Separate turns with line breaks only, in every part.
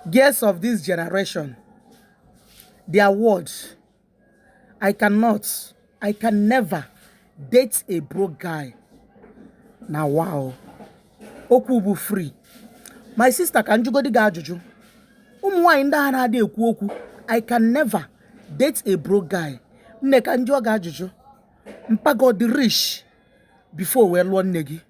Girls of this generation, their words, I cannot, I can never date a broke guy. Na wa o. Okwu bụ free. My sister ka m jụgodi gị ajụjụ. Ụmụ nwaanyị ndị a na-adị ekwu okwu, I can never date a broke guy. Nne ka m jụọ gị ajụjụ. Mpa gị ọ dị rich before wee lụọ nne gị.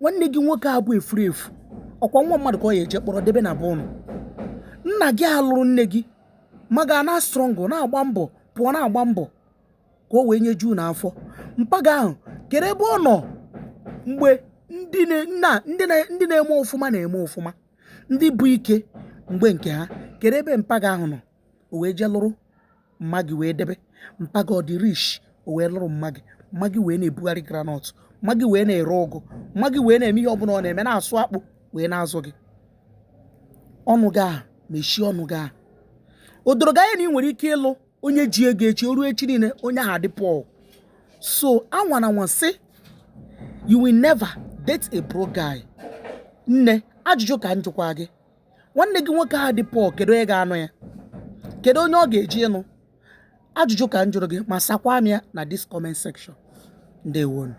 nwanne gị nwoke a bụ efuru efu ọ kwa nwa mmadụ ka ọ ya-eje kpọrọ debe na be unu nna gị a lụrụ nne gị mma gị a na-struggle na-agba mbọ pụọ na-agba mbọ ka o wee nyejuo unu afọ mpa gị ahụ kere ebe ọ nọ mgbe ndị na- nna ndị na- ndị na-eme ọfụma na-eme ọfụma ndị bụ ike mgbe nke ha kere ebe mpa gị ahụ nọ o wee jee lụrụ mma gị wee debe mpa gị ọ dị rich o wee lụrụ mma gị mma gị wee na-ebugharị groundnut mma gị wee na-ere ụgụ mma gị wee na-eme ihe ọbụla ọ na-eme na-asụ akpụ wee na-azụ gị ọnụ gị ahụ mechie ọnụ gị ahụ o doro gị anya na ị nwere ike ịlụ onye ji ego echi o ruo echi niile onye ahụ adị poor so anwana anwa sị you will never date a broke guy nne ajụjụ ka m jụkwa gị nwanne gị nwoke ahụ dị poor kedu onye ga-anụ ya kedu onye ọ ga-eje ịnụ ajụjụ ka m jụrụ gị ma sakwa m ya na this comment section ndewonụ